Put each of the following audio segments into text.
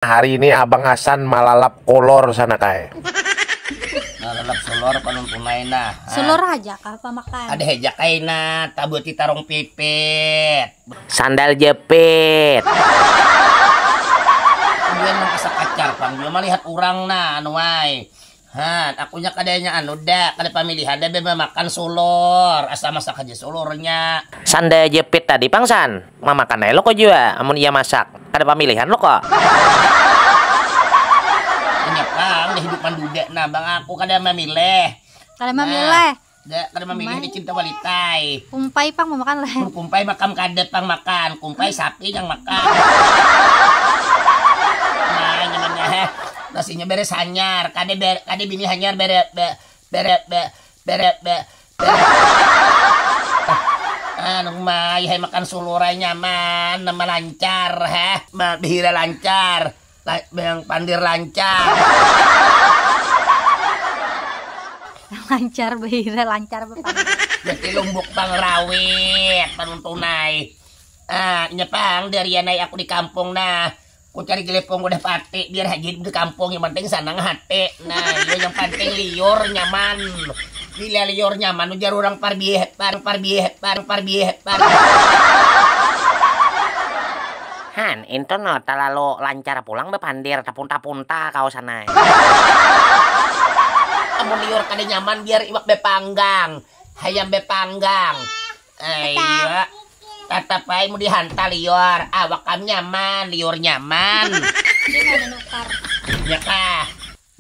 Hari ini abang Hasan malalap kolor sana kai. Malalap solor panon tunai nah. Solor haja kah pamakan. Ada haja kai nah tabuti tarong pipit. Sandal jepit. Aduan nang asa pacar pang jua malihat urang nah anu ai. Haan, aku nya kada nya anu dak, kada pamilihan dak bebas makan sulur, asal masak haja sulur nya. Sanda jepit tadi pang san, mamakan ai lo ko jua, amun iya masak, kada pamilihan lo ko. Inya pang udah hidup manduda nah bang aku kada mamilih. Kada mamilih. kada mamilih di cinta walitai kumpai pang mamakan lah kumpai makam kada pang makan kumpai sapi yang makan nah nyamannya he nasinya beres hanyar kada ber, kada bini hanyar bere be, bere be, bere be, bere anu mai hai makan sulurai nyaman nama lancar he behira lancar La, yang pandir lancar. lancar beira lancar Jadi lumbuk bang rawit panuntunai. Ah, nyepang dari anai aku di kampung nah. Ku cari gelepong udah pati biar haji di kampung yang penting sanang hati. Nah, yang penting liur nyaman. Bila liur nyaman ujar orang parbieh, par parbieh, par parbieh, par. Han, intun no talalu lancar pulang bapandir, tapunta-punta kawasan ai. Amun liur kada nyaman biar iwak bepanggang, hayam bepanggang. Aiyoo, tatap ai mun dihanta liur, awak am nyaman, liur nyaman. Nya kah.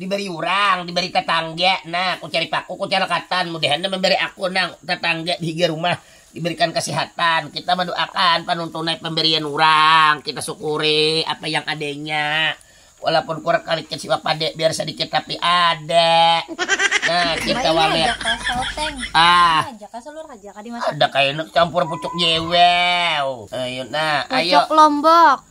Dibari urang, dibari tatangga, nah kucari paku kucara katan, mudahan nang mambari aku nang tatangga dihiga rumah dibarikan kasihatan, kita maduakan panuntunai pambarian urang, kita sukuri apa yang adanya, walaupun kurang kalikit siwak pada biar sadikit tapi ada, nah kita walet ah ada kaina campur pucuk jewel, ayu nah ayo. Pucuk lombok.